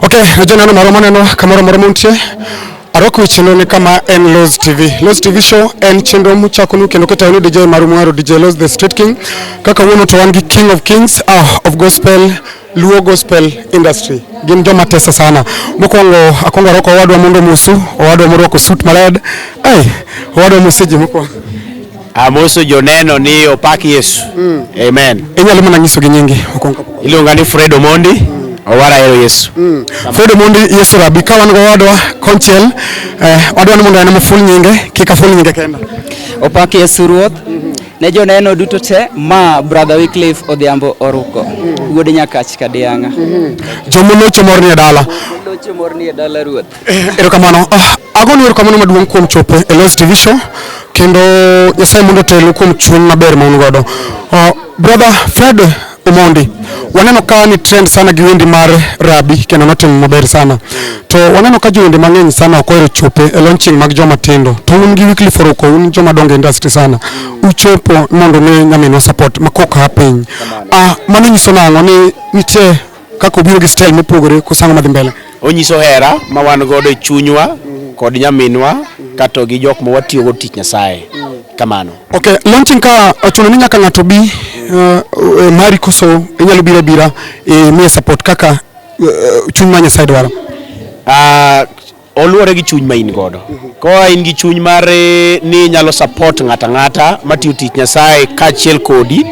Ok, najua neno moro maneno kamoro moro muntie arwako chenro ni kama en Loz TV. Loz TV show en chenro muchakonu kendo ketayonu DJ maru mwaro DJ Loz the Street King. Kaka wuono to wan gi King of Kings ah, of Gospel Luo Gospel Industry gin joma tesa sana. Mokwongo akwongo arwako owadwa mondo musu, owadwa morwako suit mared. Ai, owadwa museji mokwongo. Amoso joneno ni opak Yesu. Mm. Amen. Inyalo mana nyiso gi nyingi okonka. Iluonga ni Fred Omondi. Mm. Owara ero Yesu. Mm. Fred Omondi Yesu Rabbi ka wan go wadwa konchiel eh, wadwa ni mondo en maful nyinge kik aful nyinge kenda. Opak Yesu Ruoth. Mm -hmm. Ne joneno duto te ma brother Wycliffe Odhiambo oruko. Mm -hmm. Wuod Nyakach Kadianga. Mm -hmm. Jomolocho morni e dala. Jomolocho morni e dala Ruoth. Eh, erokamano oh, agonu erokamano maduong' kuom chopo e Los TV show kendo Nyasaye mondo otelu kuom chuny maber ma un godo. Oh, brother Fred Omondi, waneno ka ni trend sana gi wendi mar Rabi kendo notimo maber sana. To waneno ka jowendi mang'eny sana ok ohero chopo e launching mag joma tindo. To un gi Weekly Foroko, un joma dongo e industry sana. Uchopo mondo ne nyaminwa support ma koka piny. Ah, mano nyiso nang'o ni nitie kaka obiro gi style mopogore kosango madhi mbele. Onyiso hera ma wan godo e chunywa kod nyaminwa kato gi jok ma watiyo go tich Nyasaye. Kamano. Okay, launching ka ochuno ni nyaka ng'ato bi uh, uh, mari koso inyalo bira bira e miye support kaka uh, chuny ma Nyasaye dwaro. Ah, oluwore gi chuny ma in godo. Koa in gi chuny mar eh, ni inyalo support ng'ato ang'ata matiyo tich Nyasaye kaachiel kodi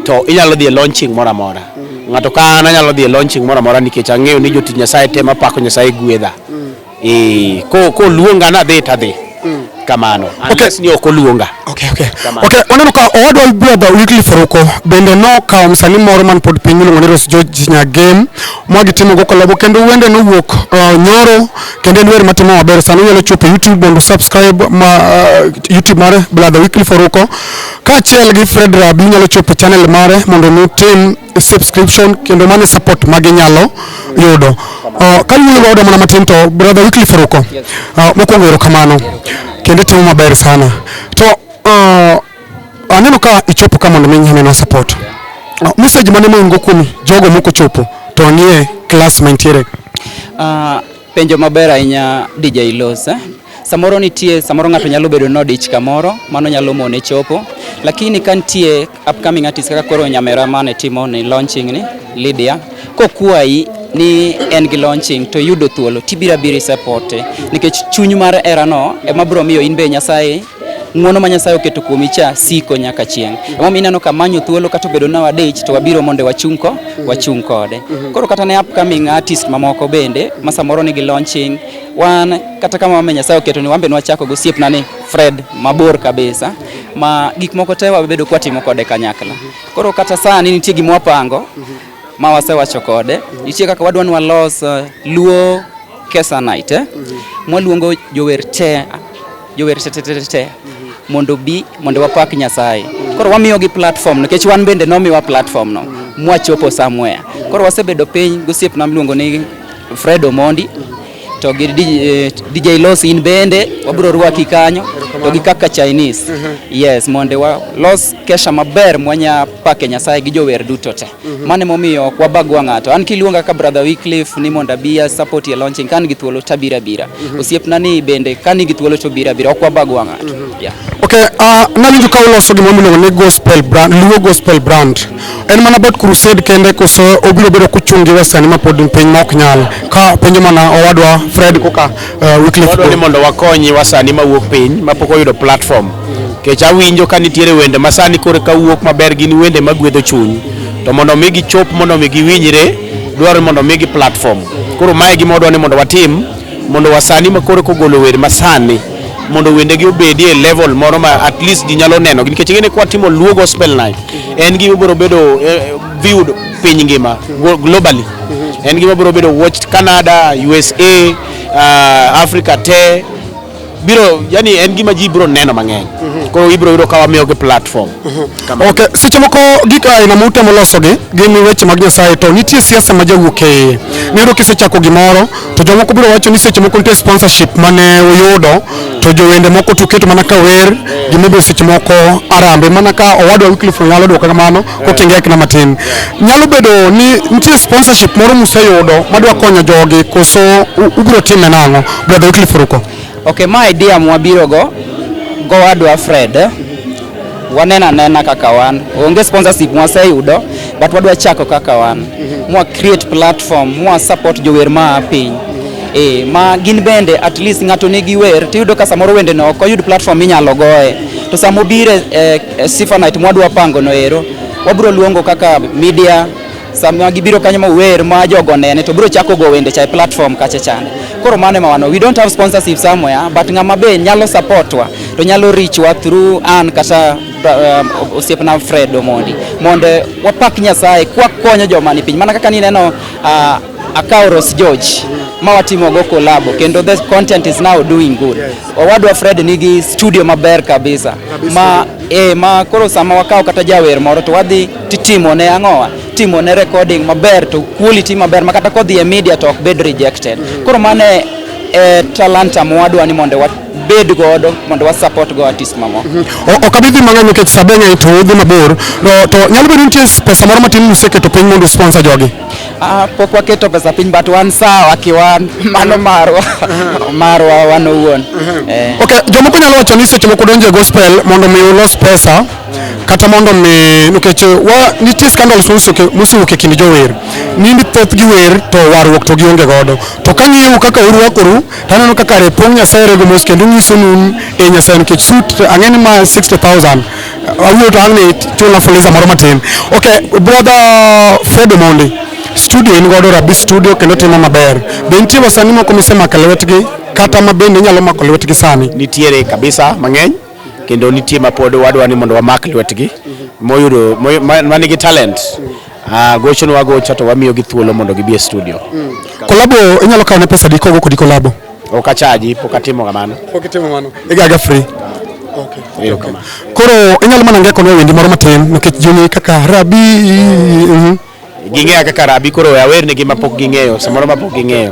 to inyalo dhi e launching moro amora. Ng'ato ka an anyalo dhi e launching moro amora nikech ang'eyo ni jotich Nyasaye te mapako Nyasaye gwedha. Eh, ko- koluonga nadhi tadhi. mm. kamano unless okay. ni ok oluonga okay, okay. okay. oneno ka owadwa brother Wycliffe Faruko bende nokawo msani moro man pod piny miluongo ni Rose George Nyagem ma gitimogo kolabo kendo wende nowuok uh, nyoro kendo en wer matimo maber sani unyalo chopo YouTube mondo subscribe ma, uh, YouTube mare brother Wycliffe Faruko kaachiel gi Fred Rabi unyalo chopo channel mare mondo nutim subscription kendo mane support ma ginyalo yudo. Uh, ka wuoyo godo mana matin to brother Wycliffe Ruko uh, mokwongo erokamano kendo itimo maber sana to uh, aneno ka ichopo ka mondo mi nyiminwa support uh, message mane moingo kuom jogo mokochopo to nie class mantiere uh, Penjo maber ahinya DJ Los. Eh? Samoro nitie, samoro ng'ato nyalo bedo no dich kamoro, mano nyalo mone chopo. Lakini ka nitie upcoming artist kaka koro Nyamera mane timo ni launching ni Lydia, kokwayi ni en gi launching to yudo thuolo tibira biri support nikech chuny mar era no ema bro miyo in be Nyasaye ng'uono ma Nyasaye oketo kuomi cha siko nyaka chieng'. Emomiyo ineno ka manyo thuolo kata obedo na wadich to wabiro mondo wachung' ko wachung' kode. Koro kata ne upcoming artist mamoko bende ma samoro nigi launching wan kata kama wame Nyasaye oketo ni wambe nwachako go siepna ni Fred mabor kabisa ma gik moko te wabedo kwatimo kode kanyakla. Koro kata sani nitie gima wapango ma wasewacho kode, nitie kaka wadwa ni walos uh, Luo Kesa Night eh? Mwaluongo jower te jower tetetete mondo obi mondo wapak Nyasaye. Koro wamiyogi platform nikech wan bende nomiwa platform no mwachopo somewhere. Koro wasebedo piny gosiepna miluongo ni Fred Omondi to gi DJ eh, Los in bende wabiro rwaki kanyo to gi kaka Chinese. Yes, mondo walos kesha maber mwanya pake Nyasaye gi jower duto te. Mhm. Mane momiyo ok wabagwa ng'ato. An kiluonga ka brother Wycliffe ni mondo abiya support ye launching kan gi thuolo tabira bira. Mhm. Osiepna ni bende kan gi thuolo to bira bira ok wabagwa ng'ato. Mhm. Yeah. Okay, uh, nawinjo ka uloso gima miluongo ni gospel brand, Luo gospel brand. En mana about crusade kende koso obiro bedo kuchungi western ma pod piny ma ok nyal. Ka penjo mana owadwa Fred Kuka Uh, Wycliffe Wadwa ni Ogo- mondo wakonyi wasani mawuok piny mapok oyudo platform. Kech awinjo ka nitiere wende masani koro ka wuok maber gin wende magwedho chuny. To mondo mi gichop mondo mi giwinjre dwarore mondo mi gi platform. Koro mae gima wadwa ni mondo watim mondo wasani makoro kogolo wer masani mondo wendegi obedi e level moro ma at least ji nyalo neno nikech ing'e ni kwa timo Luo Gospel Night en gima biro bedo eh, viewed piny ngima go- globally En gima biro bedo watched Canada, USA, uh, Africa te biro yani en gima ji biro neno mang'eny mhm. koro ibiro yudo ka wamiyogi platform mhm. ok seche moko gik aina ma utemo losogi gin weche mag nyasaye to nitie siasa ma jawuok e iye mhm. niyudo kisechako gimoro to jomoko biro wacho ni seche moko nitie sponsorship mane uyudo to jowende moko tuketo mana ka wer gimibiro seche moko arambe mana ka owadwa Wycliffe Onyalo dwoko kamano kotengi akna matin nyalo bedo ni nitie sponsorship moro museyudo madwa konyo jogi koso u- ubiro time nang'o brother Wycliffe Ruko Okay, ma idea mwabiro go go adwa Fred. Wanena nena kaka wan. Onge sponsorship mwaseyudo but wadwa chako kaka wan. Mwa create platform, mwa support jower ma a piny. Eh, ma gin bende at least ng'ato nigi wer tiyudo ka samoro wende no ok oyud platform minyalo goye. To samobire eh, Eh, Stephanie mwadwa pango no ero wabiro luongo kaka media sama gibiro kanyo mawer ma jogo nene to biro chako go wende cha platform kacha chande koro mane mawano we don't have sponsorship somewhere but ng'ama be nyalo supportwa to nyalo richwa through an kata um, osiepna Fred Omondi mondo wapak Nyasaye kwakonyo joma ni piny mana kaka nineno uh, akawo Ros George ma watimo go collabo kendo the content is now doing good. Owadwa Fred nigi studio maber kabisa ma eh, ma koro sama wakawo kata jawer moro to wadhi titimo ne ang'owa timo ne recording maber to quality maber ma kata kodhi e media to ok bed rejected. Mm. Koro mane eh, talanta mwadwa ni mondo wat wabed godo mondo wa support go artist mamoko. Mm -hmm. Ok abi dhi mang'eny nikech sabeng'e to udhi mabor. To nyalo bedo nitie pesa moro matin museketo piny mondo sponsor jogi. Ah, pok waketo pesa piny but wan sawa kiwan mano marwa marwa wan owuon Eh. Okay, jomoko nyalo wacho ni seche moko donjo e gospel mondo mi ulos pesa kata mondo mi nikech wa nitie scandals mosuke- mosewuok e kind jower ni ni thoth gi wer to warruok to gionge godo to ka ng'iyou kaka urwakoru to aneno kaka repong nyasaye rego mos kendo nyiso nun e nyasaye nikech sut ang'e ni ma 60000 Awuoyo to ang' ni chula fuliza moro matin. Okay, brother Fred Omondi, studio in godo Rabi studio kendo timo maber. Be nitie wasanii moko misemako lwetgi kata ma bende inyalo mako lwetgi sani? Nitiere kabisa mang'eny kendo nitie ma pod wadwa ni mondo wamak lwetgi moyudo manigi talent Ah, gocho nwa gocha to wamiyo gi thuolo mondo gibi e studio. Mm. Kolabo inyalo kawo ne pesa di kogo kodi kolabo. Ok achaji, pok atimo kamano. Pok itimo kamano. Igaga free. Okay. Okay. Koro inyalo mana ngeko nwa wendi moro matin nikech juni kaka rabi. Mm -hmm. Ging'eya kaka rabi koro awer ne gi mapok ging'eyo, samoro mapok ging'eyo.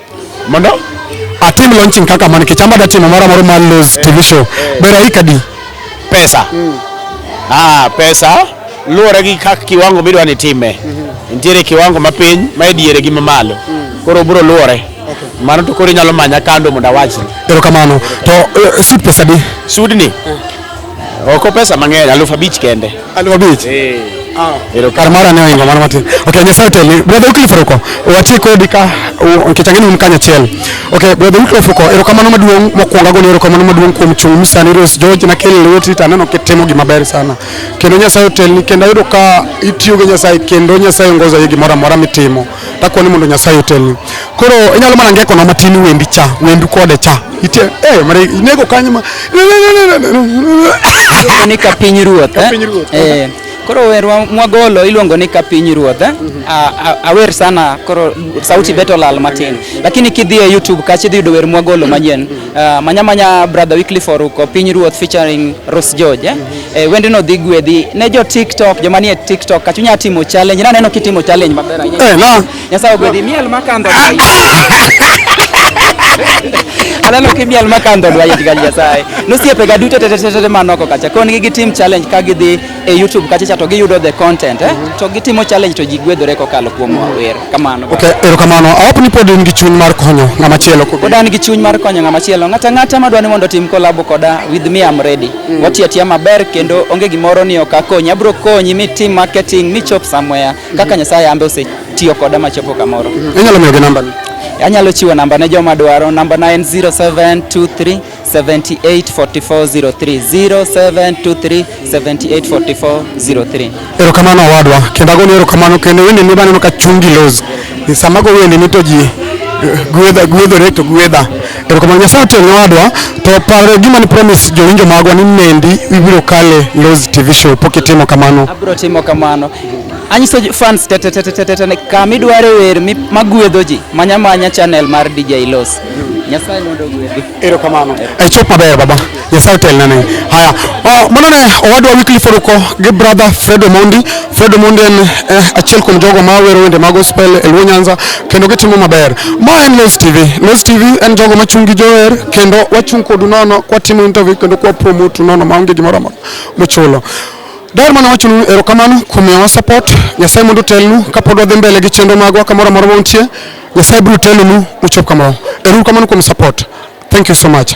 Mondo atim launching kaka man kichamba da timo mara moro man Luz TV show. Bera hii kadi. Pesa. Mm. Ah, pesa luwore gi kaka kiwango midwa ni time. Mm -hmm. Nitiere kiwango mapiny, ma e diere gi mamalo. Mm. Koro bro luwore. mano to koro inyalo manya kando mondo awachni. Erokamano. To eh, sud pesa di? Sudni? Eh. Oko pesa mang'eny, aluf abich kende. Aluf abich. Eh. Ah. Ero kar mara ne oingo mano matin. Okay, Nyasaye otelni. Brother Wycliffe Ruko, wati kodi ka nikech ang'e ni un kanyachiel. Okay, Brother Wycliffe Ruko, erokamano maduong' mokwongo agoni erokamano maduong' kuom chung' misani Rose George na kelo lweti to aneno kitimo gima ber sana. Kendo Nyasaye otelni kendo ayudo ka itiyo gi Nyasaye kendo Nyasaye ongoza gi gimoro amora mitimo. takwa ni mondo nyasaye otelni koro inyalo mana ngekona matin wendi cha wendu kode cha itie eh mare inego kanyo ma Iluongo ni ka piny ruoth Ka eh? Piny Ruoth, Eh, koro werwa mwagolo iluongo ni ka piny ruoth eh? A- a- awer sana koro sauti beto lal matin lakini kidhi e youtube kacha idhi yudo wer mwagolo manyien Uh, manya manya brother Wycliffe Oruko Piny Ruoth featuring Rose George eh? Mm -hmm. Eh, wendno dhi gwedhi ne jo TikTok joma nie TikTok kachu nya timo challenge na neno kitimo challenge maber ahinya. Eh, no. Nyasaye ogwedhi miel makandho. Aneno kimiel makandho dwa yit gal Nyasaye. Nosiepe ga duto tete tete manoko kacha. Kon gi gitim challenge ka gidhi e YouTube kacha cha to giyudo the content eh? to gitimo challenge to ji gwedhore kokalo kuom wer kamano Okay, erokamano. Awap ni pod in gi chuny mar konyo ng'ama chielo. pod an gi chuny mar konyo ng'ama chielo ng'ata ng'ata madwa ni mondo otim kolabo koda with me am ready Mm. watiyo atiya maber kendo onge gimoro ni ok akonyi abiro konyi mitim marketing michop somewhere kaka nyasaye ambe osetiyo koda machopo kamoro Inyalo miyogi nambani? anyalo chiwo namba ne joma dwaro nambana en 0723 7844030723784403. Erokamano owadwa, kendo agoni erokamano kendo wende ni baneno ka chungi los. Sama go wende ni to ji eh, gwedha gwedhore to gwedha. Erokamano Nyasaye otel ne owadwa to paro gima ni promise jowinjo magwa ni mendi ibiro kale Loz TV show pok itimo kamano. Abiro timo kamano. Anyiso fans tetetetetete kama idware wer magwedho ji manya manya channel mar DJ Loz. Nyasaye mondo ogwedhi. Erokamano. E chop maber baba. Nyasaye otel nane. Haya. Oh, mano ne owadwa Wycliffe Oruko gi brother Fred Omondi. Fred Omondi en eh, achiel kuom jogo ma wero wende mag gospel e Luo Nyanza kendo gitimo maber. Ma en Los TV. Los TV en jogo machung' gi jower kendo wachung' kodu nono kwatimo interview kendo kwa promote nono maonge gimoro amora mochulo. Daher mana wacho nu erokamano kuom miyowa support. Nyasaye mondo otelnu kapod wadhi mbele gi chenro magwa kamoro amora ma untie. Nyasaye biro telonu uchop kamoro. Erouru kamano kuom support. Thank you so much.